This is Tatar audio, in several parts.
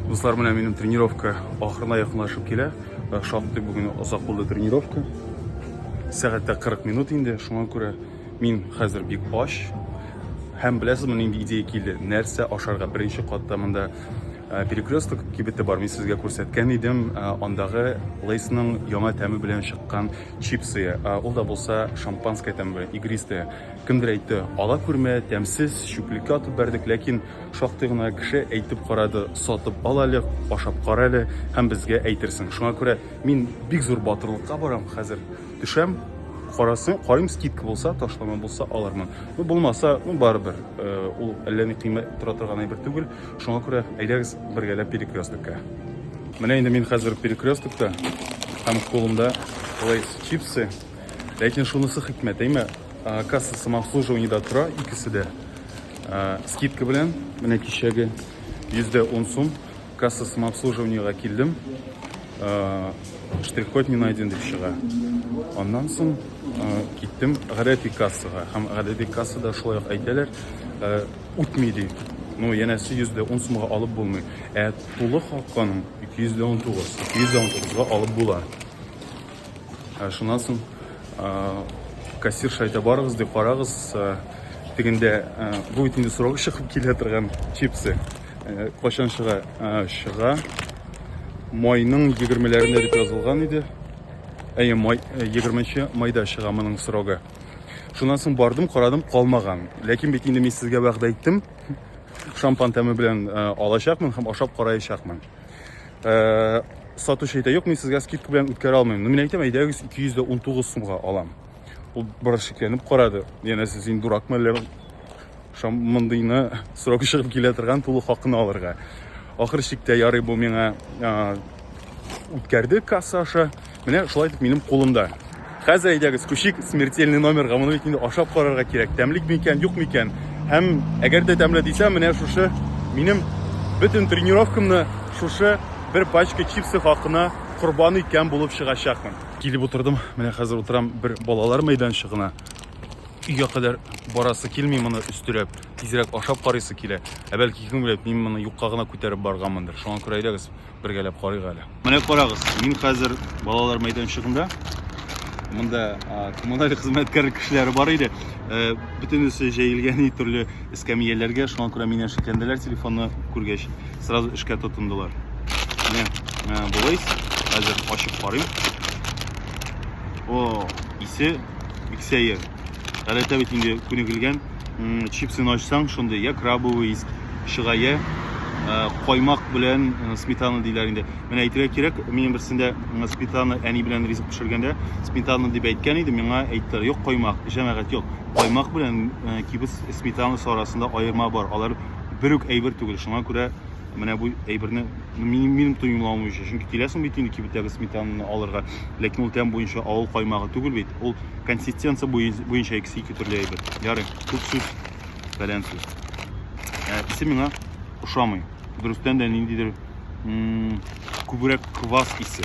Дуслар, менә минем тренировка ахырына якынлашып килә. Э, шактый бүген озак булды тренировка. Сәгатьтә 40 минут инде. Шуңа күрә мин хәзер бик ач. Һәм беләсезме, нинди идея килде? Нәрсә ашарга? Беренче катта монда э, перекресток кибете бар. Мин сезгә күрсәткән идем. Э, андагы Лейсның яңа тәме белән чыккан чипсы. Ул да булса шампанское тәме белән, игристое. Кемдер әйтте, ала күрмә, тәмсез, чүплеккә атып бәрдек, ләкин шактый гына кеше әйтеп карады, сатып ал әле, ашап кара әле һәм безгә әйтерсең. Шуңа күрә мин бик зур батырлыкка барам хәзер. Төшәм, карасын, карыйм скидка булса, ташлама булса алармын. Ну булмаса, ну барыбер, э, ул әллә ни кыйммәт тора торган әйбер түгел. Шуңа күрә әйдәгез бергәләп перекресткә. Менә инде мин хәзер перекресткта һәм кулымда лейс чипсы. Ләкин шунысы хикмәт, әйме, кассасы обслуживаниедә тора икесе дә. Скидка белән, менә кичәге йөздә ун сум касса самообслуживаниега килдем. Штрих-код не найден дип чыга. Аннан соң киттем гадәти кассага. Һәм гадәти кассада шулай ук әйтәләр, үтми ди. Ну, янәсе йөздә ун сумга алып булмый. Ә тулы хакын 219, 219 га алып була. Ә шуннан соң кассирша әйтә, барыгыз дип карагыз, тегендә бу бит инде срогы чыгып килә торган чипсы. Качан чыга? Чыга. Майның 20-ләрендә дип язылган иде. Әйе, май 20 майда чыга моның срогы. Шуннан соң бардым, карадым, калмаган. Ләкин бит инде мин сезгә вәгъдә иттем. Шампан тәме белән алачакмын һәм ашап караячакмын. Э, сатучы әйтә, юк, мин сезгә скидка белән үткәрә алмыйм. Ну, мин әйтәм, әйдәгез 219 сумга алам. Ул бер шикләнеп карады. Яна сез инде дуракмы әллә мондыйны срок чыгып килә торган тулы хакына алырга. Ахыр шиктә ярый бу миңа үткәрде касса аша. Менә шулай итеп минем кулымда. Хәзер әйдәгез, күчик смертельный номерга. Моны бит инде ашап карарга кирәк. Тәмлек микән, юк микән? Һәм әгәр дә тәмле дисә, менә шушы минем бөтен тренировкамны шушы бер пачка чипсы хакына корбан иткән булып чыгачакмын. Килеп утырдым. Менә хәзер утырам бер балалар мәйданчыгына. Өйгә кадәр барасы килми моны өстерәп, тизрәк ашап карыйсы килә. Ә бәлки кем белә, мин моны юкка гына күтәреп барганмындыр. Шуңа күрә әйдәгез, бергәләп карыйк әле. Менә карагыз, мин хәзер балалар мәйданчыгында. Монда коммуналь хезмәткәр кешеләре бар иде. Э, бөтенесе җәелгән ни төрле эскәмияләргә, шуңа күрә мине шикләнделәр телефонны күргәч, сразу эшкә тотындылар. Менә э, болай хәзер ачып карыйм. О, исе бик сәер. Галәтә бит инде күнегелгән. Чипсын ачсаң, шундый я крабовый ис чыга, я каймак белән сметана диләр инде. Менә әйтергә кирәк, минем берсендә сметана әни белән ризык пешергәндә сметана дип әйткән иде, миңа әйттеләр, юк каймак, җәмәгать, юк. Каймак белән кибес сметанасы арасында аерма бар. Алар бер үк әйбер түгел. Шуңа күрә Менә бу әйберне минем, минем тоемлавым өчен. Чөнки киләсең бит инде кибеттәге сметананы алырга. Ләкин ул тәм буенча авыл каймагы түгел бит. Ул консистенция буенча икесе ике төрле әйбер. Ярый, күп сүз, фәлән сүз. Ә икесе миңа ошамый. Дөрестән дә ниндидер күбрәк квас исе.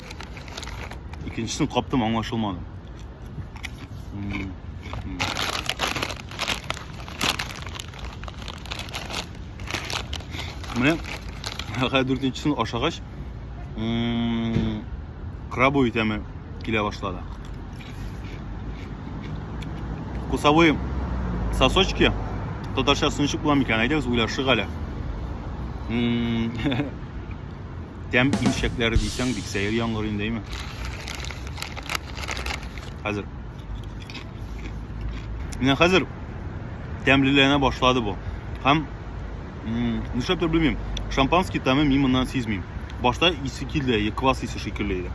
Икенчесен каптым, аңлашылмады. Менә хәзер дүртенчесен ашагач, крабовый тәме килә башлады. Вкусовые сосочки татарча сынчык була микән? Әйдәгез, уйлашыйк әле. тәм имчәкләре дисәң, бик сәер яңгыр инде, әйме? Хәзер. Менә хәзер тәмлеләнә башлады бу. Һәм нишләптер белмим, шампанский тәме мин моннан сизмим. Башта исе килде, квас исе шикелле иде.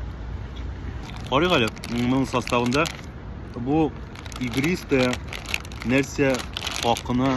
Карыйк әле, моның составында бу игристая нәрсә хакына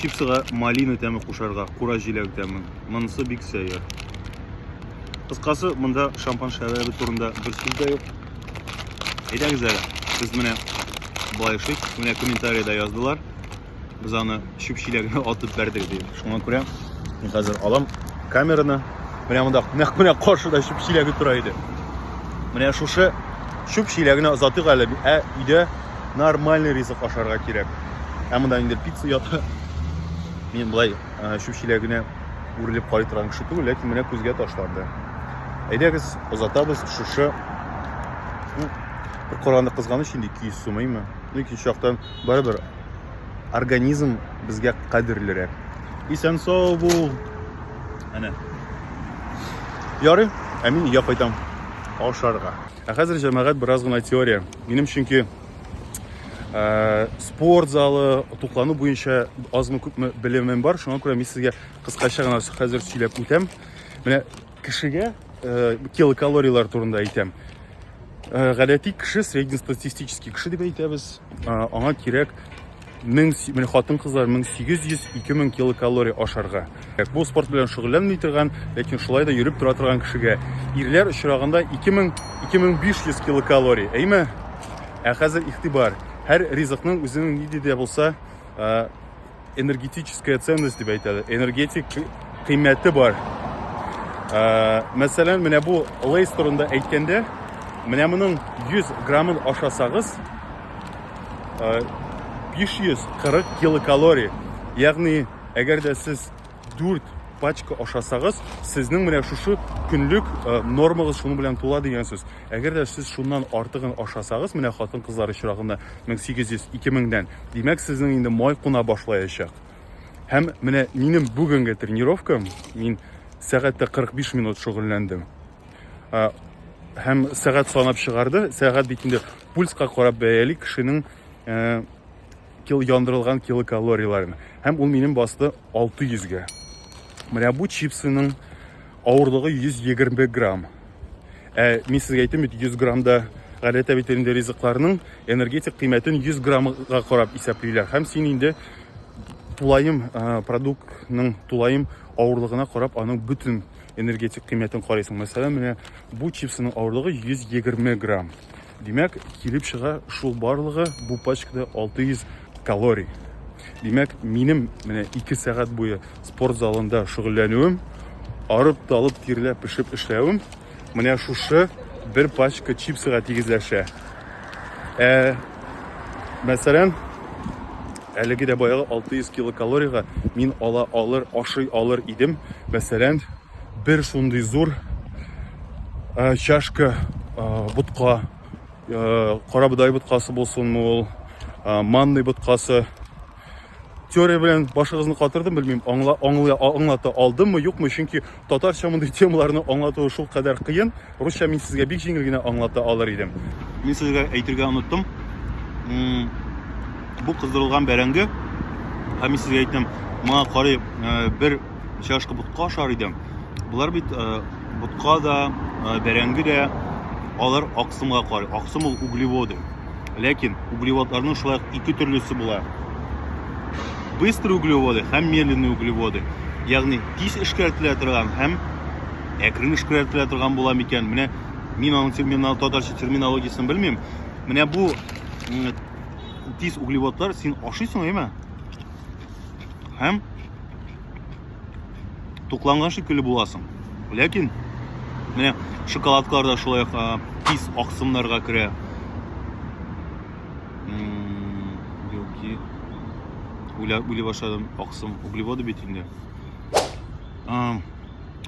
Чипсыга малина тәме кушарга, кура җиләк тәме. Монысы бик сәер. Кыскасы, монда шампан шәрабы турында бер сүз дә юк. Әйдәгез әле, без менә балайшык, менә комментариядә яздылар. Без аны чүп чиләгенә атып бәрдек дип. Шуңа күрә мин хәзер алам камераны. Менә монда нәкъ менә каршыда чүп чиләге тора иде. Менә шушы чүп чиләгенә озатыйк әле, ә өйдә нормальный ризык ашарга кирәк ә монда инде пицца ята мин былай чүпчилә генә үрелеп карый торган кеше түгел ләкин менә күзгә ташланды әйдәгез озатабыз шушы ну, бер караганда кызганыч инде ике йөз сумыймы ну икенче жактан барыбер организм безгә кадерлерәк исән сау бул әнә ярый ә мин өйгә кайтам ашарга Ә хәзер җәмәгать бераз гына теория. Минем чөнки ә, спорт залы, туклану буенча азмы күпме белемем бар. Шуңа күрә мин сезгә кыскача гына хәзер сөйләп үтәм. Менә кешегә ә, килокалорияләр турында әйтәм. Ә, гадәти кеше, среднестатистический кеше дип әйтәбез. Ә, аңа кирәк 1000 хатын-кызлар 1800-2000 килокалория ашарга. Бу спорт белән шөгыльләнми торган, ләкин шулай да йөреп тора торган кешегә ирләр очрагында 2000-2500 килокалория. Әйме? Ә хәзер игътибар. Һәр ризыкның үзенең нинди дә булса энергетическая ценность дип әйтәләр. Энергетик кыйммәте бар. Мәсәлән, менә бу лейс турында әйткәндә, менә моның 100 граммын ашасагыз, 540 килокалорий. Ягъни, әгәр дә сез 4 пачка ашасагыз, сезнең менә шушы көнлек э, нормагыз шуның белән тула дигән сүз. Әгәр дә сез шуннан артыгын ашасагыз, менә хатын-кызлар очрагында 1800-2000-дән, димәк, сезнең инде май куна башлаячак. Һәм менә минем бүгенге тренировкам, мин сәгатьтә 45 минут шөгыльләндем. Һәм сәгать санап чыгарды. Сәгать бит инде пульска карап бәяли кешенең э, кил яндырылган килокалорияләрен. Һәм ул минем басты 600 гә. Менә бу чипсының авырлыгы 120 грамм. Ә мин сезгә әйтәм бит 100 граммда гадәттә бит инде ризыкларның энергетик кыйммәтен 100 граммга карап исәплиләр. Һәм син инде тулаем э, продуктның тулаем авырлыгына карап аның бөтен Энергетик кыйммәтен карыйсың. Мәсәлән, менә бу чипсының авырлыгы 120 грамм. Димәк, килеп чыга шул барлыгы бу пачкада 600 калорий. Димәк, минем менә 2 сәгать буе спорт залында шөгыльләнүем, арып талып тирләп пешеп эшләвем менә шушы бер пачка чипсыга тигезләшә. Ә, мәсәлән, әлеге дә баягы 600 килокалорияга мин ала алыр, ашый алыр идем. Мәсәлән, бер шундый зур ә, чашка ә, ботка, ә, карабодай боткасы булсынмы ул, ә, манный боткасы, теория белән башыгызны катырдым белмим аңла, аңла, аңлата алдыммы юкмы чөнки татарча мондый темаларны аңлатуы шул кадәр кыен русча мин сезгә бик җиңел генә аңлата алыр идем мин сезгә әйтергә оныттым бу кыздырылган бәрәңге һәм мин сезгә әйттем моңа карый э, бер чашка ботка ашар идем болар бит э, ботка да э, бәрәңге дә алар аксымга карый аксым ул углеводы Ләкин углеводларның шулай ук ике төрлесе була. Быстрый углеводы һәм медленный углеводы. Ягъни тиз эшкәртелә торган һәм әкрен эшкәртелә торган була микән? Менә мин аның терминал татарча терминологиясен белмим. Менә бу тиз углеводлар син ашыйсың, әйме? Һәм тукланган шикелле буласың. Ләкин менә шоколадкалар да шулай тиз аксымнарга керә. Белки уйла уйли башладым, аксым углеводы бит инде.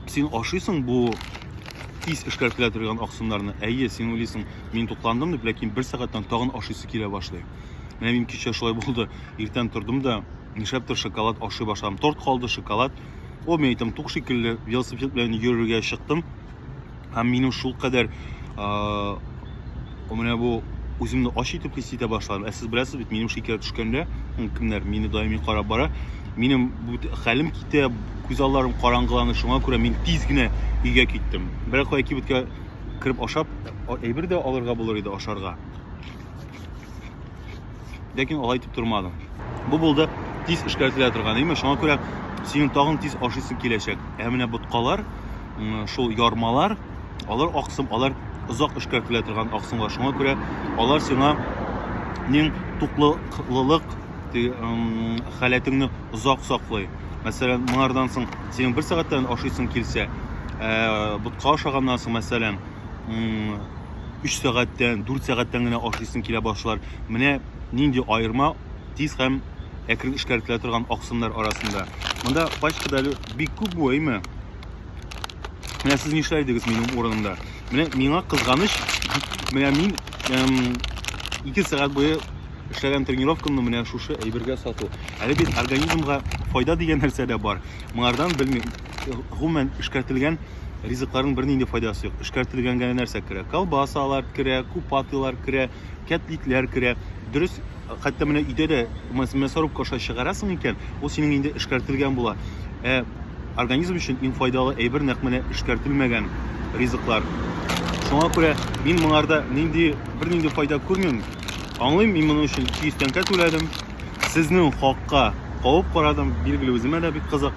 Син ашыйсың бу тиз эшкәреп килә торган аксымнарны. Әйе, син уйлыйсың, мин тукландым дип, ләкин бер сәгатьтән тагын ашыйсы килә башлый. Менә мин кичә шулай булды. Иртән тордым да, Нишләптер шоколад ашый башладым. Торт калды, шоколад. Ул мин әйтәм, тук шикелле велосипед белән йөрергә чыктым. Һәм минем шул кадәр менә бу үземне ач итеп хис итә башладым. Ә сез беләсез бит, минем шикәр төшкәндә, кемнәр мине даими карап бара, минем хәлем китә, күз алларым караңгыланды. Шуңа күрә мин тиз генә өйгә киттем. Берәр кая кибеткә кереп ашап, әйбер дә алырга булыр иде ашарга. ләкин алай итеп тормадың. Бу булды тиз эшкәртелә торган, әйме? Шуңа күрә синең тагын тиз ашыйсың киләчәк. Ә менә боткалар, шул ярмалар, алар аксым, алар озак эшкәртелә торган аксымлар. Шуңа күрә алар сиңа нең туклылык халәтеңне озак саклый. Мәсәлән, моңардан соң синең бер сәгатьтән ашыйсың килсә, ә, ботка ашаганнан соң, мәсәлән, 3 сәгатьтән, 4 сәгатьтән генә ашыйсың килә башлар. Менә нинди аерма тиз һәм әкрен эшкәртелә торган аксымнар арасында. Монда пачкада әле бик күп бу, әйме? Менә сез нишләр идегез минем урынымда? Менә миңа кызганыч, менә мин эм, 2 сәгать буе эшләгән тренировкамны менә шушы әйбергә сату. Әле бит организмга файда дигән нәрсә дә бар. Моңардан белмим. гомумән эшкәртелгән ризыкларның бернинди файдасы юк. Эшкәртелгән генә нәрсә керә? Колбасалар керә, купатылар керә, кәтлитләр керә. Дөрес, хәтта менә өйдә дә мясорубка аша чыгарасың икән, ул синең инде эшкәртелгән була. Ә организм өчен иң файдалы әйбер нәкъ менә эшкәртелмәгән ризыклар. Шуңа күрә мин моңарда нинди бернинди файда күрмим. Аңлыйм, мин моның өчен 200 тәңкә түләдем. Сезнең хакка кавып карадым, билгеле үземә дә бик кызык.